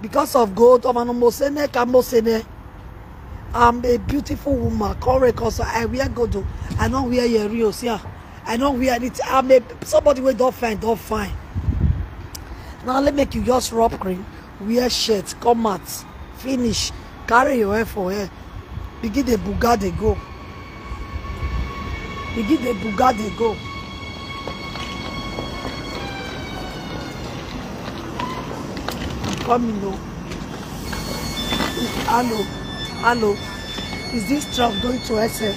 Because of gold, I'm a mosene, kamosene. I'm a beautiful woman. Correct, cause I wear gold. I don't wear your real, yeah. I don't wear it. I'm a somebody we don't find, don't find. Now let me make you just rub cream, wear shirt, come out, finish. Carry your head for head. Begin the buga dey go. Begin the buga dey go. I'm coming o. Hello, hello. Is this truck going to SF?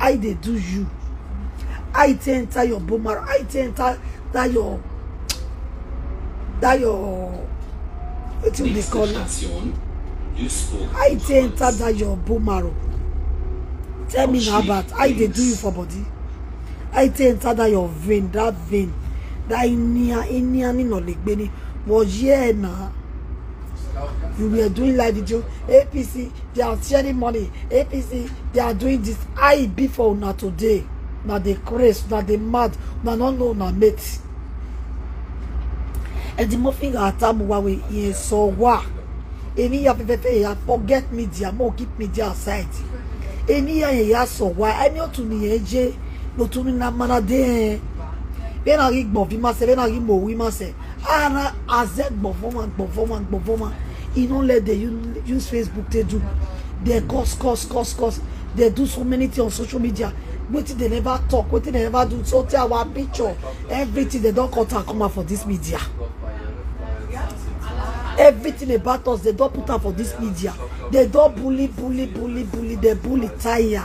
I dey do you. I take enter your bone marrow. I take enter that your that your wetin we dey call it. I take enter that your bone marrow. Tell me now about I dey do you for body. I take enter that your vein, that vein, that inia inia ni no le gbe ni. But yeah na. you were doing live video apc they are sharing money apc they are doing this how e be for una today na dey craze na dey mad na no know na mate edimofin atamuwa wey e so wa eni ya pepete ya forget media mo keep media aside eni ya ye ya so wa eni otu ni ye je no tu ni na mana de be na ri gbon bi ma se be na ri mo wi ma se ara azẹ gbọ̀nfọ́ wọn gbọ̀nfọ́ wọn gbọ̀nfọ́ wọn e no let dey u- use facebook take do dey cause cause cause cause dey do so many things on social media wetin dey never talk wetin dey never do so tey our picture everything dey don cut am come out for this media everything about us dey don put am for this media dey don bully bully bully bully dey bully tire.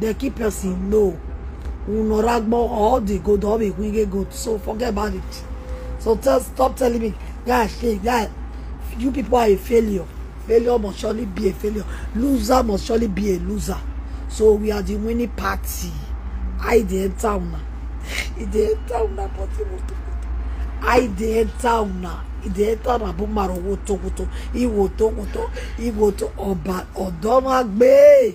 the key person no unoragbo all the good all the we get good so forget about it so tell stop telling me guys say guys you people are a failure failure must surely be a failure loser must surely be a loser so we are the winning party i dey enter una e dey enter una body woto i dey enter una e dey enter una bó maro woto woto iwoto woto iwoto ọba ọdọmagbe.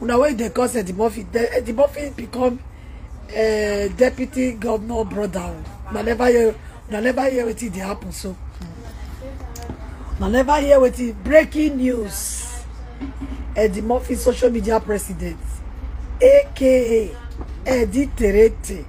Una wey dey cause Eddie Murphy, Eddie Murphy become uh, deputy governor brother. Una never hear, una never hear wetin dey happen so. Una never hear wetin breaking news. Eddie Murphy social media president, aka Eddie Terete.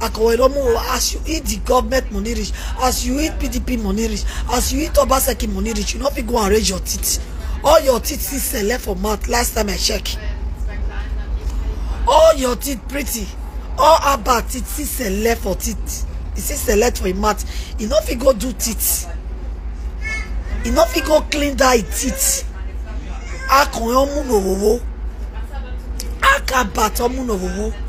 Akoweromo, as you eat the government money rich, as you eat PDP money rich, as you eat Obaseki money rich, you no fit go and raise your teeth. All your teeth still sell for mouth last time I check. All your teeth pretty. All about teeth still sell for teeth. E still sell for im mouth. E no fit go do teeth. E no fit go clean that e teeth. Akọ̀yán múnòwòwò. Akabatọ̀ múnòwòwò.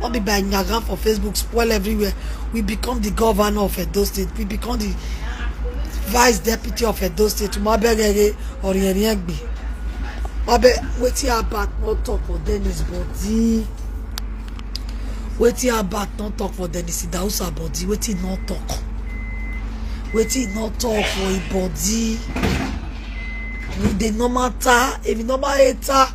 All be by Nyaga for Facebook, spoil everywhere. We become the governor of Edo State. We become the vice deputy of Edo State. Mabegere or Yeriegbe. Mabe, wetin Abat no talk for Dennis body. Wetin Abat no talk for Dennis Idausa body. Wetin no talk. Wetin no talk for him body. If they no matter, if he no matter.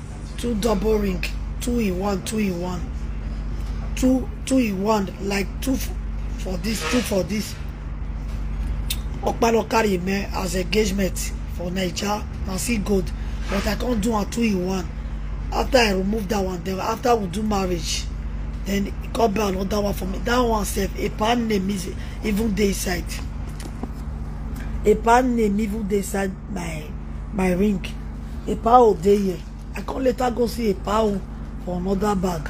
two double ring two in one two in one two two in one like two for this two for this okpalo carry me as engagement for naija na see gold but i come do am two in one after i remove that one then after we do marriage then e come buy another one for me that one sef a pan name is even dey inside a pan name even dey inside my my ring a pao dey here i come later go see a pao for another bag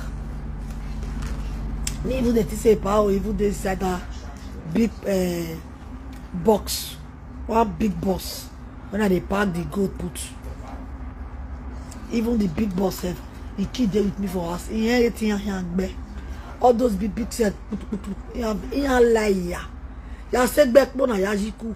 me even dey think say a pao even dey inside that big uh, box one big box when i dey pack the gold put even the big box sef the kid dey with me for house he yan eti yan yan gbẹ all those big big sef putuputu yan yan lai ya ya se gbẹ kpona ya yi ku.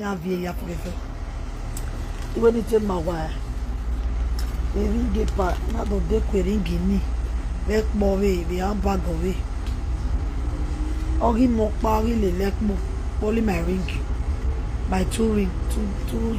ya bi ya prefe iwe ni te ma wa eri de pa na do de ko eri gi ni le po we bi an ba go we ori mo pa ori le le po only my ring my two ring two two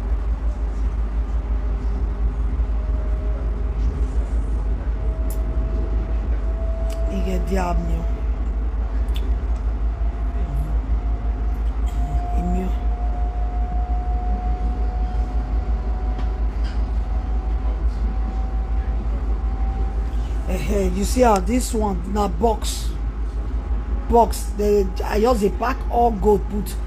Ighe diablo. Emil. Hey, you see how this one na box box they i just dey pack all gold put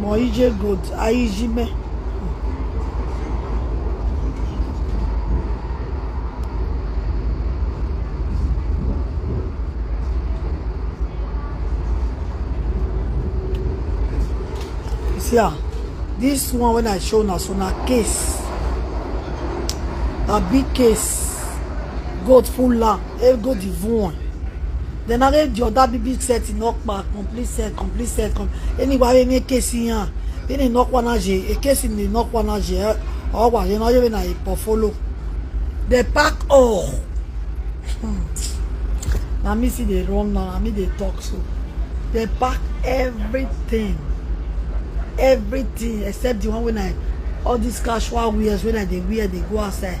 mọ ije gold ayijime. see ah this one when i show una so na case na big case goat full land e go the one then are the other big set knock back complete set complete set anyway any case yan any knock one as a case in the knock one as a or what you know you na a portfolio they pack all hmm. na me see dey run now na me dey talk so they pack everything everything except the one when i all these casual wears when i dey wear dey go outside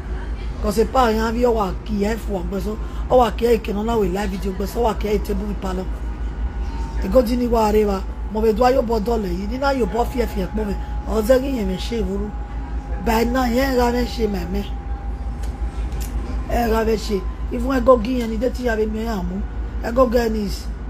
Because a pa yan vi owa ki e fu ogbe so. Owa ki e ke no na we live video gbe so owa ki e table ri palo. E go di ni wa re wa. Mo be do ayo bo dole yi ni na yo bo fi e fi e po me. O ze gi yen me se vuru. By now yen ra me se me me. E ra me se. Even e go gi yen ni de ti ya be mi amu. E go get this.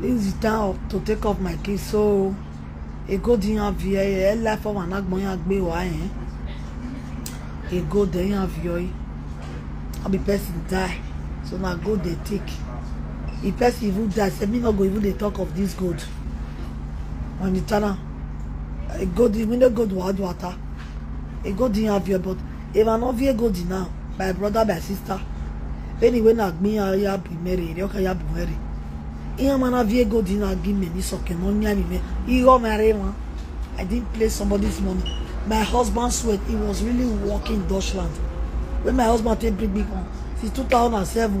This is the time to take up my kids. So, ego di yan vi ẹ life ọmọ anagbọn yan gbé wá yẹn. Ego de yan vi ọyí. All the person die. So na go dey take. The person even die. Say me no go even dey talk of this gold. When the channel, eh, gold, we no gold water. e go di have your but if i no vie go di now my brother my sister anyway na gbin ya ya bi mere ire ọka ya bi mere ihe mana vie go di na gi me ni soke no nya ni me iro mere won i didn't play somebody's money my husband sweat he was really working in Deutschland when my husband take bring me home since 2007